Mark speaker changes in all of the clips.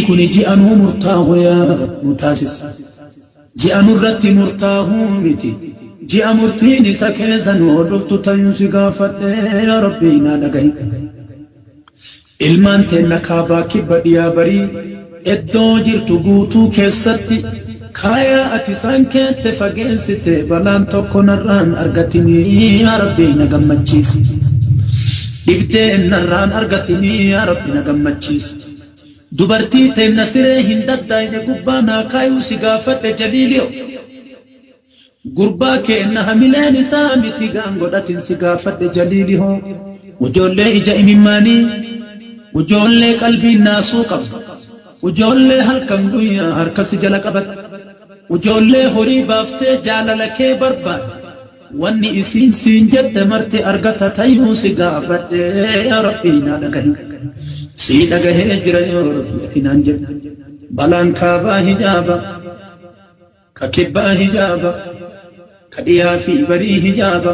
Speaker 1: kuni ji'a nuu murtaahu yaa rabbi nu taasis ji'a nurratti murtaahu miti ji'a murtiin isa keessa nu dhuftu tayuu si gaafadhe yaa rabbi naa dhagahi Ilmaan teenna kaabaa kibba dhiyaa barii eddoo jirtu guutuu keessatti kaayaa ati isaan keette fageessite balaan tokko narraa hin argatinii yaa rabbii na gammachiisi dhibdeen narraa hin argatinii yaa rabbi na gammachiisi dubartii teenna siree hin daddaayne gubbaa naa kaayuu si gaafadhe jaliilio. Gurbaa keenna hamileen isaa miti gaan godhatin si gaafadhe jaliili hoo ujoollee ija imimmaanii ujoollee qalbiin naasuu qabdu ujoollee halkan guyyaa harka si jala qabatte ujoollee horii baaftee jaalala kee barbaadde wanni isiin siin jette marti argata tayuu si gaafadhe yaa rabbii naa dhagahi sii dhagahee jira yoo rabbii ati naan jedhe balaan kaabaa hijaaba Ka kibbaa hijaaba, ka dhiyaa fi barii hijaaba.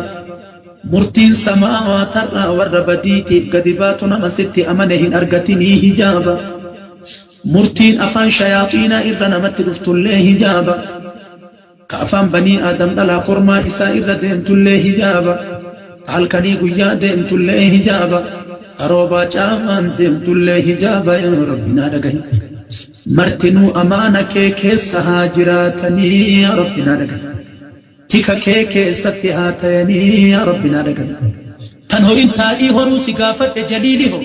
Speaker 1: Murtiin samaawaatarraa warra badiitiif gadi baatu nama sitti amane hin argatinii hijaaba. Murtiin afaan shayaaxiinaa irra namatti dhuftullee hijaaba. Ka afaan banii aadam dhalaa kormaa isaa irra deemtullee hijaaba. Ta halkanii guyyaa deemtullee hijaaba. Ta roobaa caamaan deemtullee hijaaba yaa Rabbi naa dhagahi. Martinuu amaana kee keessa haa jiraatanii yaa rabbi naa dhagahi tika kee keessatti haa tayanii yaa rabbi naa dhagahi kan horin taa'ii horuu si gaafadhe jaliili hoo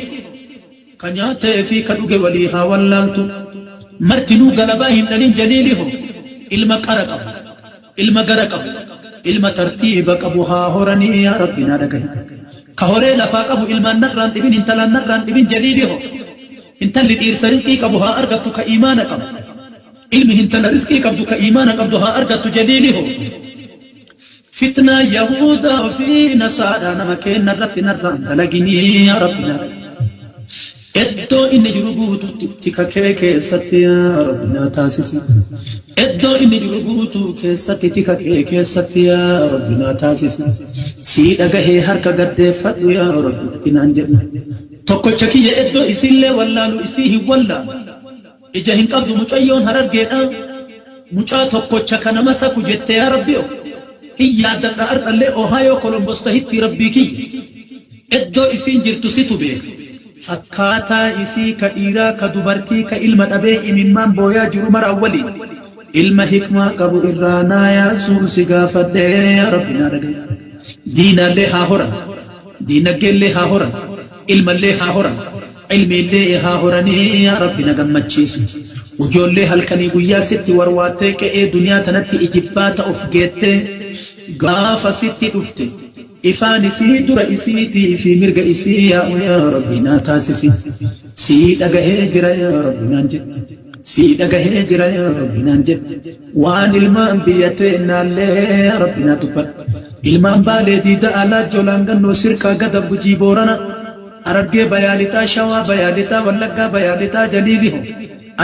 Speaker 1: ka nyaate fi ka dhuge walii haa wallaaltu martinuu galabaa hin dhalin jaliili hoo ilma qara qabu ilma gara qabu ilma tartiiba qabu haa horanii yaa rabbi naa dhagahi ka horee lafaa qabu ilmaan narraan dhibin intalaan narraan dhibin jaliili hoo Hintalli dhiirsa rizqii qabu haa argattu ka iimaana qabu. Ilmi hintala rizqii qabdu ka iimaana qabdu haa argattu jaliili hoo. Fitnaa yahuudaa fi nasaaraa nama keenna irratti narraa hin dalaginii yaa rabbi yaa rabbi. Eddoo inni jiru guututti tika kee keessatti yaa rabbi naa taasisi. Eddoo inni jiru guutuu keessatti tika kee keessatti yaa rabbi naa taasisi. Sii dhagahee harka gaddeeffadhu yaa rabbi ati naan jedhu. Tokkocha kiyya eddoo isiillee wallaalu isii hin wallaalu. Ija hin qabdu mucayyoon harargeedha. Mucaa tokkocha kana masaku jette yaa Rabbioo. Hin yaaddadha ar'allee Ohio Columbus tahittii Rabbii kiyya. Eddoo isiin jirtu situ beeka. Fakkaataa isii ka dhiiraa ka dubartii ka ilma dhabee imimmaan booyaa jiru maraan waliin. Ilma hikmaa qabu irraa naa yaasuun si gaafadhe yaa Rabbi naa dhagayi. Diinaallee haa horan. Diinagdeellee haa horan, ilmallee haa horan, ilmiillee haa horanii yaa Rabbi na gammachiisi. Ujoollee halkanii guyyaa sitti warwaattee qe'ee duniyaa tanatti ijibbaata of geettee gaafa sitti dhufte ifaan isii dura isiitii fi mirga isii yaa'u yaa Rabbi naa taasisi. Sii dhagahee jira yaa Rabbi naan jedhi. Sii dhagahee jira yaa Rabbi naan jedhi. Waan ilmaan biyya teennaallee Rabbiin haa dubbatu. Ilmaan Baalee, Diida, Alaajjoo, Laangannoo, Sirkaa, Gadab, Gujii, Boorana, Harargee Bayaa Lixaa, Shawaa Bayaa Lixaa, Wallaggaa Bayaa Lixaa, Jaliili hoo?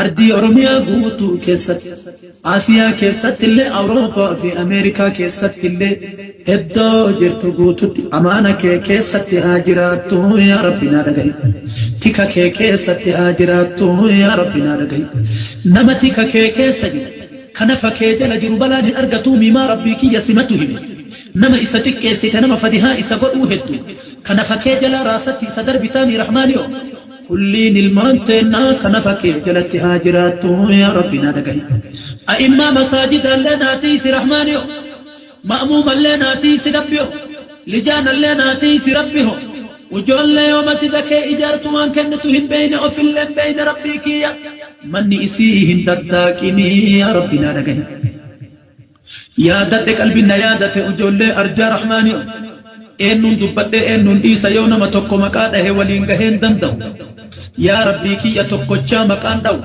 Speaker 1: Ardii Oromiyaa guutuu keessatti, Asiyaa keessattillee, Awurooppaa fi Ameerikaa keessattillee, Iddoo jirtu guututti amaana kee keessatti haa jiraattu yaa rabbi naa dhagahi tika kee keessatti haa jiraattu yaa rabbi naa dhagahi nama tika kee keessa jiru ka nafa kee jala jiru balaan hin argatuu miimaa rabbii kiyya simatu hime nama isa xiqqeessite nama fadihaa isa godhuu heddu ka nafa kee jalaa raasatti isa darbitaamii rahmaaniyoo kulliin ilmaan teennaa ka nafa kee jalatti haa jiraattu yaa rabbi naa dhagahi a'immaa masaajidaallee naa tiysi rahmaaniyoo. Ma'muumallee naa tiysi Rabbi ho. Lijaanallee naa tiysi Rabbi ho. Ujoollee yoo masida kee ijaartu waan kennitu hin beeyne ofillee hin beeyne Rabbii kiyya. Manni isi'ii hin tattaaqinii yaa Rabbi naa dhagahi. Yaadadhe qalbiin na yaadate ujoollee arjaa Rahmaani ho. Eennuun dubbadhee eennuun dhiisa yoo nama tokko maqaa dhahe waliin gahee hin danda'u. Yaa Rabbii kiyya tokkochaa maqaan dhahu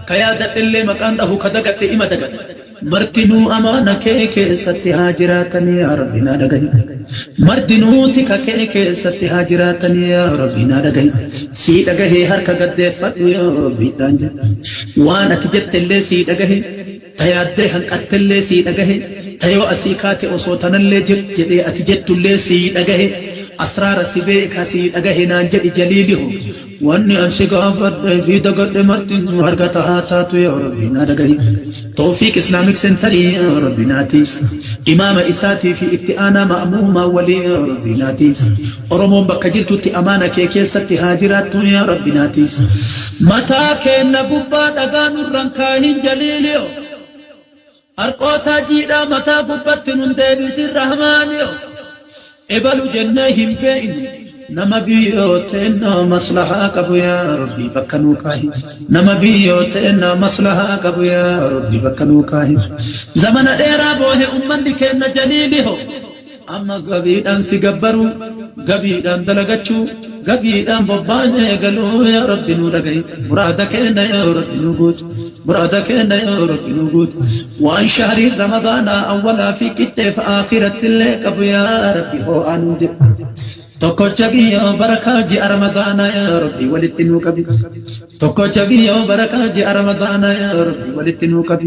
Speaker 1: ka yaadadhellee maqaan dhahu ka dagadhe ima dagadha. Martinuu amaana kee keessatti haa jiraatanii yaa Rabbi naa dhagahi. Martinuu tika kee keessatti haa jiraatanii yaa Rabbi naa dhagahi. Sii dhagahee harka gad deeffadhu yaa Rabbi ittaan jedhe. Waan ati jettellee sii dhagahe. Ta yaaddee hanqattellee sii dhagahe, ta yoo asii kaate osoo tanallee jedhi jedhee ati jettullee sii dhagahe, asraara si beeka sii dhagahe naan jedhi jaliili hoo. Wanni an si gaafadhee fi dagadhe martinuu argata haa taatu yaa Rabbii naa dhagahi. Towfiiq Islamic Centre yaa Rabbi naa tiysi. Imaama isaatii fi itti aanaa ma'muumaa waliin yaa Rabbii naa tiysi. Oromoon bakka jirtutti amaana kee keessatti haa jiraattuu yaa rabbi naa tiysi. Mataa keenna gubbaa dhagaa nurra hin kaahin jaliilio Harqootaa jiidhaa mataa gubbatti nun deebisin rahmaanio Ebalu jennee hin beeynu nama biyyoo teennaa maslahaa qabu yaa rabbi bakka nuu kaahi Nama biyyoo teennaa maslahaa qabu yaa rabbi bakka nuu kaahi Zamana dheeraa boohe ummanni keenna jaliilio Amma gabiidhaan si gabbaruu gabiidhaan dalagachuu gabiidhaan bobbaan eegaluu yaa rabbi nuu dhagahi muraada keenna yaa rabbi nuu guuti muraada keenna yaa rabbi nuu guuti waan shahriin ramadaanaa awwalaa fi qixxeef aakiratti illee qabu yaa rabbi hoo'aa nuun jedhi tokkocha kiyyoo barakaa ji'a ramadaanaa yaa rabbi walitti nuu qabi tokkocha kiyyoo barakaa ji'a ramadaanaa yaa rabbi walitti nuu qabi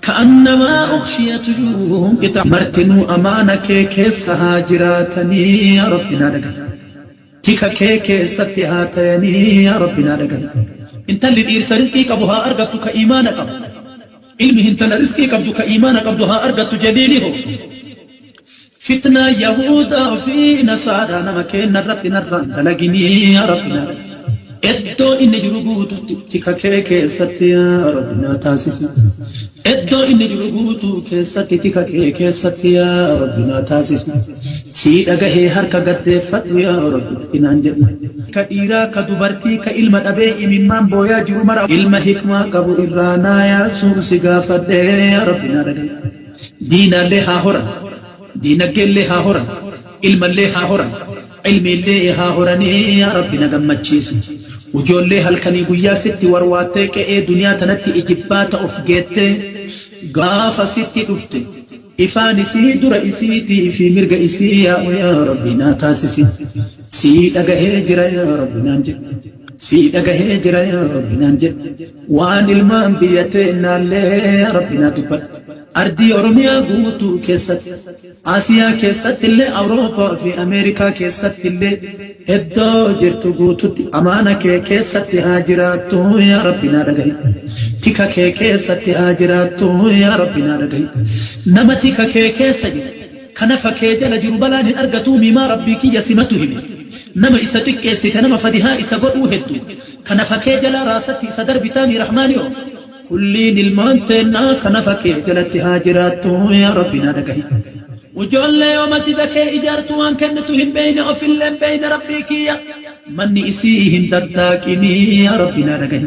Speaker 1: Ka'annamaa ughshiyat juu'uhum qixaa'an. Martinuu amaana kee keessa haa jiraatanii yaa Rabbi naa dhagahi. Tika kee keessatti haa tayanii yaa Rabbi naa dhagahi. Intalli dhiirsa rizqii qabu haa argattu ka iimaana qabu. Ilmi hintala rizqii qabdu ka iimaana qabdu haa argattu jaliili hoo. Fitnaa yahuudaa fi nasaaraa nama keenna irratti narraa hin dalagini yaa rabbi naa dhagge. Eddoo inni jiru guututti tika kee keessatti yaa rabbi naa taasisi. Eddoo inni jiru guutuu keessatti tika kee keessatti yaa rabbi naa taasisi. Sii dhagahee harka gad deeffadhu yaa rabbi ati naan jedhu. Ka dhiiraa ka dubartii ka ilma dhabee imimmaan booyaa jiru mara ilma hikmaa qabu irraa naa yaasuu si gaafadhe yaa rabbi naa dhagahi. Diinaallee haa horan, diinaggeellee haa horan, ilmallee haa horan, ilmiillee haa horanii yaa Rabbi na gammachiisi. Ujoollee halkanii guyyaa sitti warwaattee qe'ee duniyaa tanatti ijibbaata of geettee gaafa sitti dhufte ifaan isii dura isiitii fi mirga isii yaa'u yaa Rabbi naa taasisi. Sii dhagahee jira yaa Rabbi naan jedhi. Sii dhagahee jira yaa Rabbi naan jedhi. Waan ilmaan biyya teennaallee yaa Rabbi naa dubbadhu. Ardii Oromiyaa guutuu keessatti, Asiyaa keessattillee, Awurooppaa fi Ameerikaa keessattillee eddoo jirtu guututti amaana kee keessatti haa jiraattu yaa Rabbi naa dhagahi. Tika kee keessatti haa jiraattu yaa Rabbi naa dhagahi. Nama tika kee keessa jiru. kana fake jala jiru balaan hin argatuu miimaa rabbii kiyya simatu hime nama isa xiqqeessite nama fadihaa isa godhuu heddu kana fake jala raasatti isa darbitaa mii rahmaani oo. Kulliin ilmaan teennaa kana fake jalatti haa jiraattu yaa rabbi naa dhagahi. Ujoollee yoo masjida kee ijaartu waan kennitu hin beeyne ofillee hin beeyne rabbii kiyya manni isii'i hin daddaaqini yaa rabbi naa dhagahi.